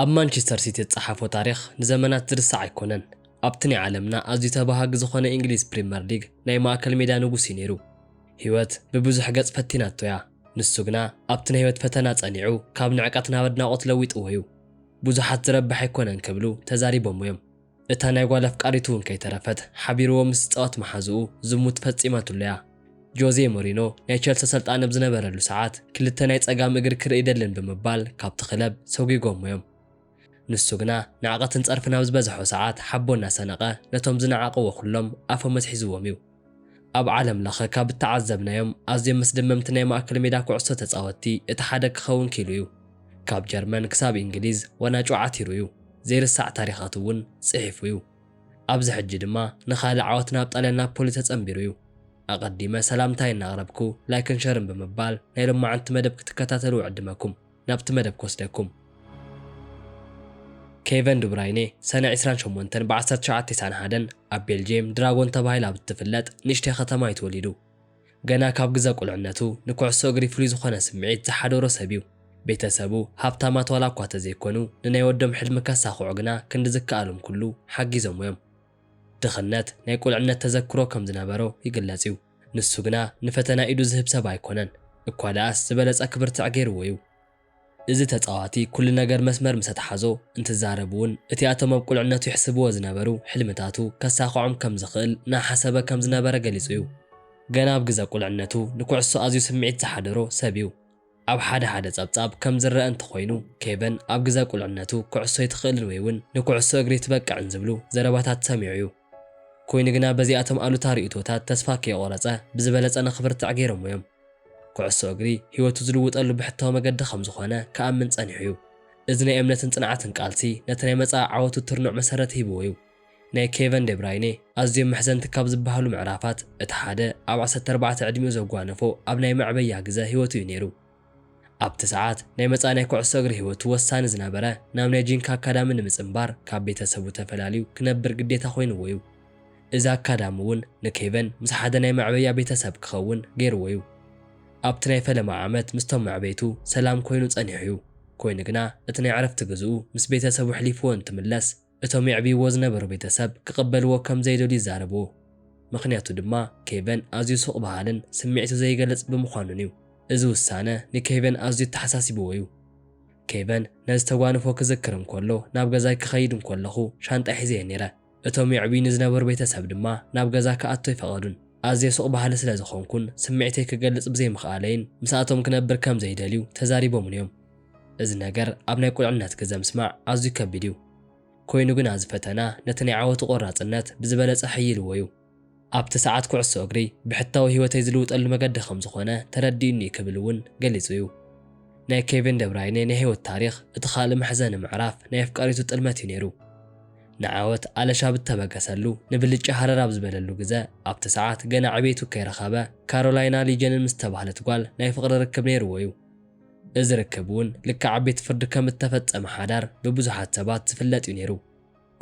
ኣብ ማንቸስተር ሲቲ ዝጸሓፎ ታሪኽ ንዘመናት ዝርሳዕ ኣይኮነን። ኣብቲ ናይ ዓለምና ኣዝዩ ተባሃጊ ዝኾነ ኢንግሊዝ ፕሪመር ሊግ ናይ ማእከል ሜዳ ንጉስ እዩ ነይሩ። ህይወት ብብዙሕ ገጽ ፈቲናቶ እያ። ንሱ ግና ኣብቲ ናይ ህይወት ፈተና ጸኒዑ ካብ ንዕቀት ናብ ኣድናቖት ለዊጥዎ እዩ። ብዙሓት ዝረብሕ ኣይኮነን ክብሉ ተዛሪቦሞ እዮም። እታ ናይ ጓል ኣፍቃሪቱ እውን ከይተረፈት ሓቢርዎ ምስ ዝጻወት መሓዝኡ ዝሙት ፈጺማትሉ እያ። ጆዜ ሞሪኖ ናይ ቸልሲ ኣሰልጣኒ ኣብ ዝነበረሉ ሰዓት ክልተ ናይ ጸጋም እግሪ ክርኢ ኣይደልን ብምባል ካብቲ ክለብ ሰጒጎሞ እዮም። ንሱ ግና ንዕቀትን ጸርፍን ኣብ ዝበዝሖ ሰዓት ሓቦ እናሰነቐ ነቶም ዝነዓቕዎ ኩሎም ኣፎም ኣትሒዝዎም እዩ። ኣብ ዓለም ለኸ ካብ እተዓዘብናዮም ኣዝዮም መስደመምቲ ናይ ማእከል ሜዳ ኩዕሶ ተጻወትቲ እቲ ሓደ ክኸውን ክኢሉ እዩ። ካብ ጀርመን ክሳብ እንግሊዝ ወናጩ ዓቲሩ እዩ፣ ዘይርሳዕ ታሪኻት እውን ጽሒፉ እዩ። ኣብዚ ሕጂ ድማ ንኻልእ ዓወት ናብ ጣልያን ናፖሊ ተጸንቢሩ እዩ። ኣቐዲመ ሰላምታይ እናቕረብኩ ላይክን ሸርን ብምባል ናይ ሎማዕንቲ መደብ ክትከታተሉ እዕድመኩም። ናብቲ መደብ ክወስደኩም። ኬቨን ዱብራይነ ሰነ ዕስራን ሸሞንተን ብ ዓሰርተ ትሽዓተ ቴስዓን ሓደን ኣብ ቤልጅየም ድራጎን ተባሂላ ኣብ እትፍለጥ ንእሽተይ ከተማ እዩ ተወሊዱ። ገና ካብ ግዘ ቁልዕነቱ ንኩዕሶ እግሪ ፍሉይ ዝኾነ ስምዒት ዝሓደሮ ሰብ እዩ። ቤተሰቡ ሃብታማት ዋላ እኳ ተዘይኮኑ ንናይ ወዶም ሕልሚ ከሳኽዑ ግና ክንዲ ዝከኣሎም ኩሉ ሓጊዞሞ እዮም። ድኽነት ናይ ቁልዕነት ተዘክሮ ከም ዝነበሮ ይግለጽ እዩ። ንሱ ግና ንፈተና ኢዱ ዝህብ ሰብ ኣይኮነን እኳ ደኣስ ዝበለጸ ክብርትዕ ገይርዎ እዩ። እዚ ተጻዋቲ ኩሉ ነገር መስመር ምስ ኣትሓዞ እንትዛረብ እውን እቲ ኣቶም ኣብ ቁልዕነቱ ይሕስብዎ ዝነበሩ ሕልምታቱ ከሳኽዖም ከም ዝኽእል እናሓሰበ ከም ዝነበረ ገሊጹ እዩ። ገና ኣብ ግዘ ቁልዕነቱ ንኩዕሶ ኣዝዩ ስምዒት ዝሓደሮ ሰብ እዩ። ኣብ ሓደ ሓደ ጸብጻብ ከም ዝረኣ እንተኾይኑ፣ ኬቨን ኣብ ግዘ ቁልዕነቱ ኩዕሶ ኣይትኽእልን ወይ ውን ንኩዕሶ እግሪ ኣይትበቅዕን ዝብሉ ዘረባታት ሰሚዑ እዩ። ኮይኑ ግና በዚኣቶም ኣሉታ ርእይቶታት ተስፋ ከይቖረጸ ብዝበለጸ ንኽብርትዕ ገይሮሞ እዮም። ኩዕሶ እግሪ ህይወቱ ዝልውጠሉ ብሕታዊ መገዲ ከም ዝኾነ ክኣምን ጸኒሑ እዩ። እዚ ናይ እምነትን ጽንዓትን ቃልሲ ነቲ ናይ መጻኢ ዓወቱ ትርኑዕ መሰረት ሂብዎ እዩ። ናይ ኬቨን ደብራይነ ኣዝዮም መሕዘንቲ ካብ ዝበሃሉ ምዕራፋት እቲ ሓደ ኣብ ዓሰርተ ኣርባዕተ ዕድሚኡ ዘጓነፎ ኣብ ናይ መዕበያ ግዘ ህይወቱ እዩ ነይሩ። ኣብቲ ሰዓት ናይ መጻኢ ናይ ኩዕሶ እግሪ ህይወቱ ወሳኒ ዝነበረ ናብ ናይ ጂንካ ኣካዳሚ ንምጽንባር ካብ ቤተሰቡ ተፈላልዩ ክነብር ግዴታ ኮይንዎ እዩ። እዚ ኣካዳሚ እውን ንኬቨን ምስ ሓደ ናይ መዕበያ ቤተሰብ ክኸውን ገይርዎ እዩ። ኣብቲ ናይ ፈለማ ዓመት ምስቶም መዕበይቱ ሰላም ኮይኑ ጸኒሑ እዩ። ኮይኑ ግና እቲ ናይ ዕረፍቲ ግዝኡ ምስ ቤተሰቡ ኣሕሊፍዎ እንትምለስ፣ እቶም የዕብይዎ ዝነበሩ ቤተሰብ ክቕበልዎ ከም ዘይደልዩ ይዛረቡ፣ ምኽንያቱ ድማ ኬቨን ኣዝዩ ሱቕ በሃልን ስምዒቱ ዘይገልጽ ብምዃኑን'ዩ። እዚ ውሳነ ንኬቨን ኣዝዩ ኣተሓሳሲብዎ'ዩ። ኬቨን ነዚ ተጓንፎ ክዝክር እንከሎ፣ ናብ ገዛይ ክኸይድ እንከለኹ ሻንጣይ ሒዘ'የ ነይረ። እቶም የዕብዩኒ ዝነበሩ ቤተሰብ ድማ ናብ ገዛ ክኣቱ ኣይፈቐዱን። ኣዝየ ሱቕ በሃሊ ስለ ዝዀንኩን ስምዒተይ ክገልጽ ብዘይምኽኣለይን ምስኣቶም ክነብር ከም ዘይደልዩ ተዛሪቦምኒ'ዮም። እዚ ነገር ኣብ ናይ ቁልዕነት ግዘ ምስማዕ ኣዝዩ ከቢድ እዩ። ኮይኑ ግና እዚ ፈተና ነቲ ናይ ዓወቱ ቆራፅነት ብዝበለፀ ሐይልዎ እዩ። ኣብቲ ሰዓት ኩዕሶ እግሪ ብሕታዊ ህይወተይ ዝልውጠሉ መገዲ ከምዝኾነ ተረዲኡኒ እዩ ክብል እውን ገሊፁ እዩ። ናይ ኬቪን ደብራይኔ ናይ ህይወት ታሪኽ እቲ ካልእ መሕዘኒ ምዕራፍ ናይ ኣፍቃሪቱ ጥልመት እዩ ነይሩ። ንዓወት ኣለሽ ኣብ እተበገሰሉ፣ ንብልጫ ሃረር ኣብ ዝበለሉ ግዘ፣ ኣብቲ ሰዓት ገና ዕቤቱ ከይረኸበ ካሮላይና ሊጀንን ምስ ዝተባህለት ጓል ናይ ፍቕሪ ርክብ ነይርዎ እዩ። እዚ ርክብ እውን ልክዕ ኣብ ቤት ፍርዲ ከም እተፈጸመ ሓዳር ብብዙሓት ሰባት ዝፍለጥ እዩ ነይሩ።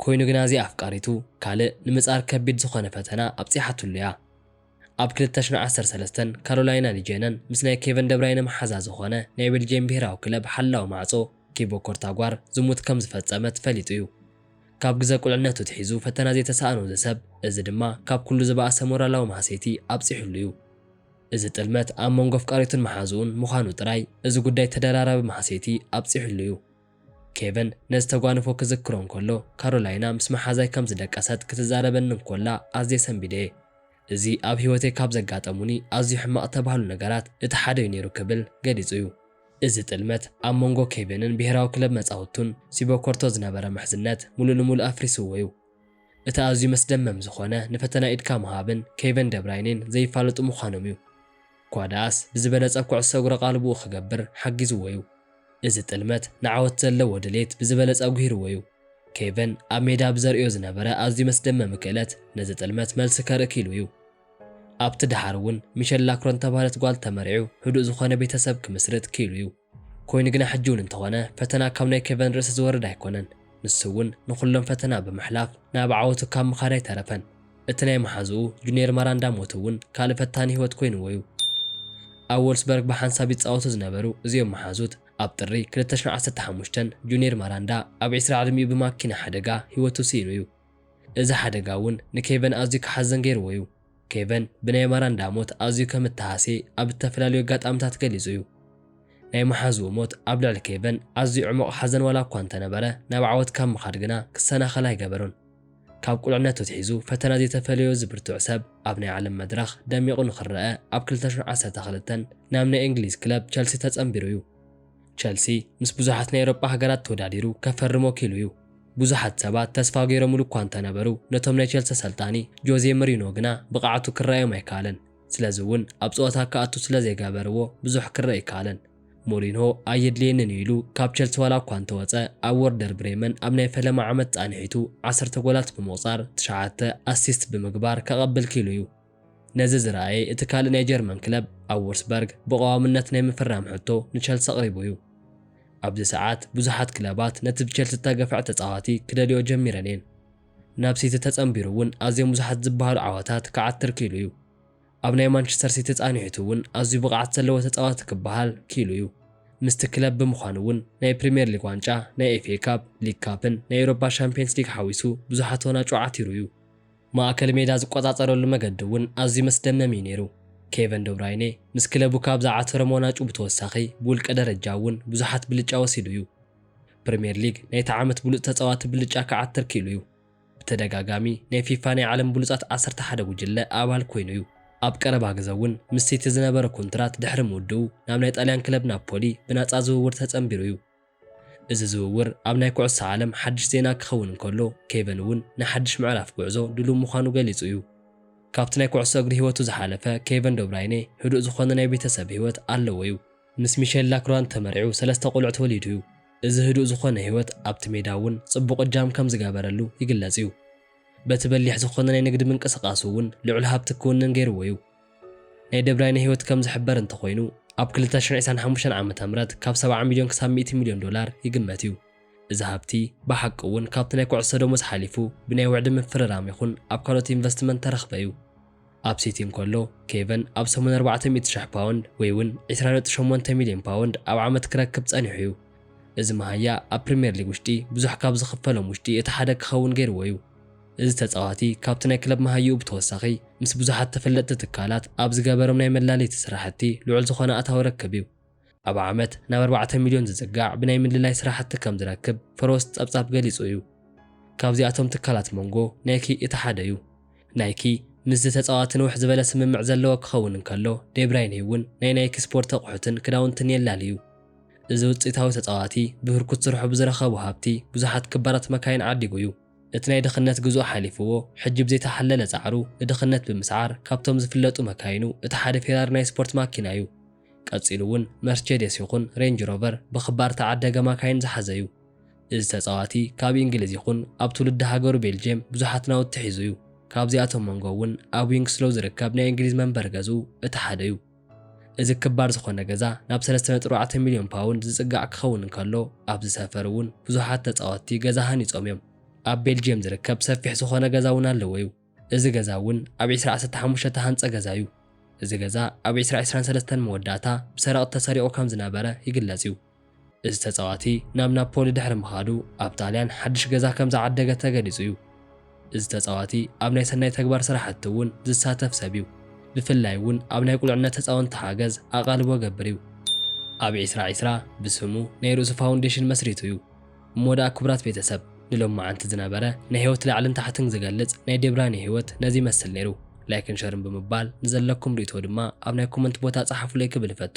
ኰይኑ ግና እዚኣ ኣፍቃሪቱ ካልእ ንምጻር ከቢድ ዝዀነ ፈተና ኣብጺሓትሉ እያ። ኣብ ክልተ ሽሕን ዓሰርተ ሰለስተን ካሮላይና ሊጀነን ምስ ናይ ኬቨን ደብራይነ መሓዛ ዝዀነ ናይ ቤልጅየም ብሄራዊ ክለብ ሓላዊ ማዕጾ ቲቦ ኮርታጓር ዝሙት ከም ዝፈጸመት ፈሊጡ እዩ። ካብ ግዘ ቍልዕነቱ ኣትሒዙ ፈተና ዘይተሳእኖ እዚ ሰብ እዚ ድማ ካብ ኵሉ ዝበኣሰ ሞራላዊ ማህሰይቲ ኣብጺሑሉ እዩ። እዚ ጥልመት ኣብ መንጎ ኣፍቃሪቱን መሓዝኡን ምዃኑ ጥራይ፣ እዚ ጉዳይ ተደራራቢ ማህሰይቲ ኣብጺሑሉ እዩ። ኬቨን ነዚ ተጓንፎ ክዝክሮ እንከሎ፣ ካሮላይና ምስ መሓዛይ ከም ዝደቀሰት ክትዛረበኒ እንኮላ ኣዝየ ሰንቢደ'የ። እዚ ኣብ ህይወተይ ካብ ዘጋጠሙኒ ኣዝዩ ሕማቕ እተባህሉ ነገራት እቲ ሓደ'ዩ ነይሩ ክብል ገሊጹ'ዩ። እዚ ጥልመት ኣብ መንጎ ኬቨንን ብሄራዊ ክለብ መጻውቱን ሲቦኮርቶ ዝነበረ ምሕዝነት ምሉእ ንምሉእ ኣፍሪስዎ'ዩ። እቲ ኣዝዩ መስደመም ዝኾነ ንፈተና ኢድካ ምሃብን ኬቨን ደብራይኔን ዘይፋለጡ ምዃኖም'ዩ። እኳ ደኣስ ብዝበለጸ ኩዕሶ እግሪ ኣቓልቦኡ ክገብር ሓጊዝዎ'ዩ። እዚ ጥልመት ንዓወት ዘለዎ ድሌት ብዝበለጸ ኣጉሂርዎ'ዩ። ኬቨን ኣብ ሜዳ ብዘርእዮ ዝነበረ ኣዝዩ መስደመሚ ክእለት ነዚ ጥልመት መልሲ ከርኢ ክኢሉ'ዩ። ኣብቲ ደሓር'ውን ሚሸል ላክሮን እተባህለት ጓል ተመርዒዑ ህዱእ ዝኾነ ቤተሰብ ክምስርት ክኢሉ'ዩ። ኮይኑ ግና ሕጂ እውን እንተኾነ ፈተና ካብ ናይ ኬቨን ርእሲ ዝወርድ ኣይኮነን። ንሱ እውን ንኹሎም ፈተና ብምሕላፍ ናብ ዓወቱ ካብ ምኻድ ኣይተረፈን። እቲ ናይ መሓዝኡ ጁንየር መራንዳ ሞት እውን ካልእ ፈታኒ ህይወት ኮይንዎ እዩ። ኣብ ዎልስበርግ ብሓንሳብ ይጻወቱ ዝነበሩ እዚኦም መሓዙት ኣብ ጥሪ ክልተ ሽሕ ዓሰርተ ሓሙሽተ ጁንየር መራንዳ ኣብ ዕስራ ዕድሚኡ ብማኪና ሓደጋ ህይወቱ ስኢኑ እዩ። እዚ ሓደጋ እውን ንኬቨን ኣዝዩ ክሓዝን ገይርዎ እዩ። ኬቨን ብናይ ማራንዳ ሞት ኣዝዩ ከም እተሃስየ ኣብ እተፈላለዩ ኣጋጣምታት ገሊጹ እዩ። ናይ መሓዝኡ ሞት ኣብ ልዕሊ ኬቨን ኣዝዩ ዕሙቕ ሓዘን ዋላ እኳ እንተ ነበረ፣ ናብ ዓወት ካብ ምኻድ ግና ክሰናኸል ኣይገበሮን። ካብ ቁልዕነቱ ኣትሒዙ ፈተና ዘይተፈለዮ እዚ ብርቱዕ ሰብ፣ ኣብ ናይ ዓለም መድረኽ ደሚቑ ንኽረኣ ኣብ ክልተ ሽሕ ዓሰርተ ክልተ ናብ ናይ እንግሊዝ ክለብ ቸልሲ ተጸንቢሩ እዩ። ቸልሲ ምስ ብዙሓት ናይ ኤውሮጳ ሃገራት ተወዳዲሩ ከፈርሞ ክኢሉ'ዩ። ብዙሓት ሰባት ተስፋ ገይሮምሉ እኳ እንተነበሩ፣ ነቶም ናይ ቸልሲ ኣሰልጣኒ ጆዜ ምሪኖ ግና ብቕዓቱ ክረኣዮም ኣይከኣለን። ስለዚ'ውን ኣብ ጸወታ ክኣቱ ስለዘይገበርዎ ብዙሕ ክረኣ ኣይከኣለን። ሞሪንሆ ኣየድልየንን'ዩ ኢሉ ካብ ቸልሲ ዋላ እኳ እንተወጸ፣ ኣብ ወርደር ብሬመን ኣብ ናይ ፈለማ ዓመት ጻንሒቱ ዓሰርተ ጎላት ብምቑጻር ትሽዓተ ኣሲስት ብምግባር ከቐብል ክኢሉ'ዩ። ነዚ ዝረኣየ እቲ ካልእ ናይ ጀርመን ክለብ፣ ኣብ ዉርስበርግ ብቐዋምነት ናይ ምፍራም ሕቶ ንቸልሲ ኣቕሪቡ እዩ። ኣብዚ ሰዓት ብዙሓት ክለባት ነቲ ብቸልሲ ዝተገፍዐ ተጻዋቲ ክደልይኦ ጀሚረን እየን። ናብ ሲቲ ተጸንቢሩ እውን ኣዝዮም ብዙሓት ዝበሃሉ ዓወታት ክዓትር ክኢሉ እዩ። ኣብ ናይ ማንቸስተር ሲቲ ጻንሒቱ እውን ኣዝዩ ብቕዓት ዘለዎ ተጻዋቲ ክበሃል ክኢሉ እዩ። ምስቲ ክለብ ብምዃኑ እውን ናይ ፕሪምየር ሊግ ዋንጫ፣ ናይ ኤፍኤ ካፕ፣ ሊግ ካፕን ናይ ኤውሮፓ ሻምፕየንስ ሊግ ሓዊሱ ብዙሓት ዋናጩ ዓቲሩ እዩ። ማእከል ሜዳ ዝቆጻጸረሉ መገዲ እውን ኣዝዩ መስደመም እዩ ነይሩ። ኬቨን ደብራይነ ምስ ክለቡ ካብ ዝዓተሮም ዋናጩ ብተወሳኺ ብውልቀ ደረጃ እውን ብዙሓት ብልጫ ወሲዱ እዩ። ፕሪምየር ሊግ ናይቲ ዓመት ብሉጽ ተጻዋቲ ብልጫ ክዓትር ክኢሉ እዩ። ብተደጋጋሚ ናይ ፊፋ ናይ ዓለም ብሉጻት ዓሰርተ ሓደ ጉጅለ ኣባል ኮይኑ እዩ። ኣብ ቀረባ ግዘ እውን ምስ ሲቲ ዝነበሮ ኩንትራት ድሕሪ ምውድኡ ናብ ናይ ጣልያን ክለብ ናፖሊ ብናጻ ዝውውር ተጸንቢሩ እዩ። እዚ ዝውውር ኣብ ናይ ኩዕሶ ዓለም ሓድሽ ዜና ክኸውን እንከሎ፣ ኬቨን እውን ንሓድሽ ምዕራፍ ጉዕዞ ድሉው ምዃኑ ገሊጹ እዩ። ካብቲ ናይ ኩዕሶ እግሪ ህይወቱ ዝሓለፈ ኬቨን ደብራይነ ህዱእ ዝኾነ ናይ ቤተሰብ ህይወት ኣለዎ እዩ። ምስ ሚሸል ላክራንት ተመርዕዩ ሰለስተ ቆልዑት ወሊዱ እዩ። እዚ ህዱእ ዝኾነ ህይወት ኣብቲ ሜዳ እውን ጽቡቕ እጃም ከም ዝገበረሉ ይግለጽ እዩ። በቲ በሊሕ ዝኾነ ናይ ንግዲ ምንቅስቓሱ እውን ልዑል ሃብቲ ክውንን ገይርዎ እዩ። ናይ ደብራይነ ህይወት ከም ዝሕበር እንተኾይኑ፣ ኣብ ክልተ ሽሕን ዒስራን ሓሙሽተን ዓመተ ምህረት ካብ ሰብዓ ሚልዮን ክሳብ ሚእቲ ሚልዮን ዶላር ይግመት እዩ። እዚ ሃብቲ ብሓቂ እውን ካብቲ ናይ ኩዕሶ ደሞዝ ሓሊፉ ብናይ ውዕዲ ምፍርራም ይኹን ኣብ ካልኦት ኢንቨስትመንት ተረኽበ እዩ። ኣብ ሲቲ እንከሎ፣ ኬቨን ኣብ ሰሙን ኣርባዕተ ሚእቲ ሽሕ ፓውንድ ወይ እውን ዒስራ ነጥቢ ሸሞንተ ሚልዮን ፓውንድ ኣብ ዓመት ክረክብ ጸኒሑ እዩ። እዚ መሃያ ኣብ ፕሪምየር ሊግ ውሽጢ ብዙሕ ካብ ዝኽፈሎም ውሽጢ እቲ ሓደ ክኸውን ገይርዎ እዩ። እዚ ተጻዋቲ ካብቲ ናይ ክለብ መሃይኡ ብተወሳኺ ምስ ብዙሓት ተፈለጥቲ ትካላት ኣብ ዝገበሮም ናይ መላለይቲ ስራሕቲ ልዑል ዝኾነ ኣታዊ ረክብ እዩ። ኣብ ዓመት ናብ ኣርባዕተ ሚልዮን ዝጽጋዕ ብናይ ምልላይ ስራሕቲ ከም ዝረክብ ፈሮስ ጸብጻብ ገሊጹ እዩ። ካብዚኣቶም ትካላት ሞንጎ ናይኪ እቲ ሓደ እዩ። ናይኪ ምስዚ ተጻዋቲ ንውሕ ዝበለ ስምምዕ ዘለዎ ክኸውን እንከሎ ዴብራይኔ እውን ናይ ናይኪ ስፖርት ኣቑሑትን ክዳውንትን የላሊ እዩ። እዚ ውጽኢታዊ ተጻዋቲ ብህርኩት ስርሑ ብዝረኸቦ ሃብቲ ብዙሓት ክባራት መካይን ዓዲጉ እዩ። እቲ ናይ ድኽነት ግዝኡ ሓሊፍዎ ሕጂ ብዘይተሓለለ ጻዕሩ ንድኽነት ብምስዓር ካብቶም ዝፍለጡ መካይኑ እቲ ሓደ ፌራሪ ናይ ስፖርት ማኪና እዩ። ቀጺሉ እውን መርቼዴስ ይኹን ሬንጅ ሮቨር ብኽባር ተዓደገ ማካይን ዝሓዘ እዩ። እዚ ተጻዋቲ ካብ ኢንግሊዝ ይኹን ኣብ ትውልዲ ሃገሩ ቤልጅየም ብዙሓት ናውቲ ሒዙ እዩ። ካብዚኣቶም መንጎ እውን ኣብ ዊንግስሎው ዝርከብ ናይ ኢንግሊዝ መንበሪ ገዝኡ እቲ ሓደ እዩ። እዚ ክባር ዝኾነ ገዛ ናብ ሰለስተ ነጥቢ ኣርባዕተ ሚልዮን ፓውንድ ዝጽጋዕ ክኸውን እንከሎ፣ ኣብዚ ሰፈር እውን ብዙሓት ተጻወትቲ ገዛ ሃኒጾም እዮም። ኣብ ቤልጅየም ዝርከብ ሰፊሕ ዝኾነ ገዛ እውን ኣለዎ እዩ። እዚ ገዛ እውን ኣብ ዕስራ ዓሰርተ ሓሙሽተ እተሃንጸ ገዛ እዩ። እዚ ገዛ ኣብ ዕስራ ዕስራን ሰለስተን መወዳእታ ብሰረቕቲ ተሰሪቑ ከም ዝነበረ ይግለጽ እዩ። እዚ ተጻዋቲ ናብ ናፖሊ ድሕሪ ምኻዱ ኣብ ጣልያን ሓድሽ ገዛ ከም ዝዓደገ ተገሊጹ እዩ። እዚ ተጻዋቲ ኣብ ናይ ሰናይ ተግባር ስራሕቲ እውን ዝሳተፍ ሰብ እዩ። ብፍላይ እውን ኣብ ናይ ቁልዕነት ህጻውንቲ ሓገዝ ኣቓልቦ ገብር እዩ። ኣብ ዕስራ ዕስራ ብስሙ ናይ ርእሱ ፋውንዴሽን መስሪቱ እዩ። እሞ ደኣ ክቡራት ቤተሰብ ንሎማዓንቲ ዝነበረ ናይ ሂወት ላዕልን ታሕትን ዝገልጽ ናይ ዴብራኒ ሂወት ነዚ ይመስል ኔሩ ላይክን ሸርን ብምባል ንዘለኩም ሪኢቶ ድማ ኣብ ናይ ኮመንት ቦታ ጸሓፉለይ ክብል እፈቱ።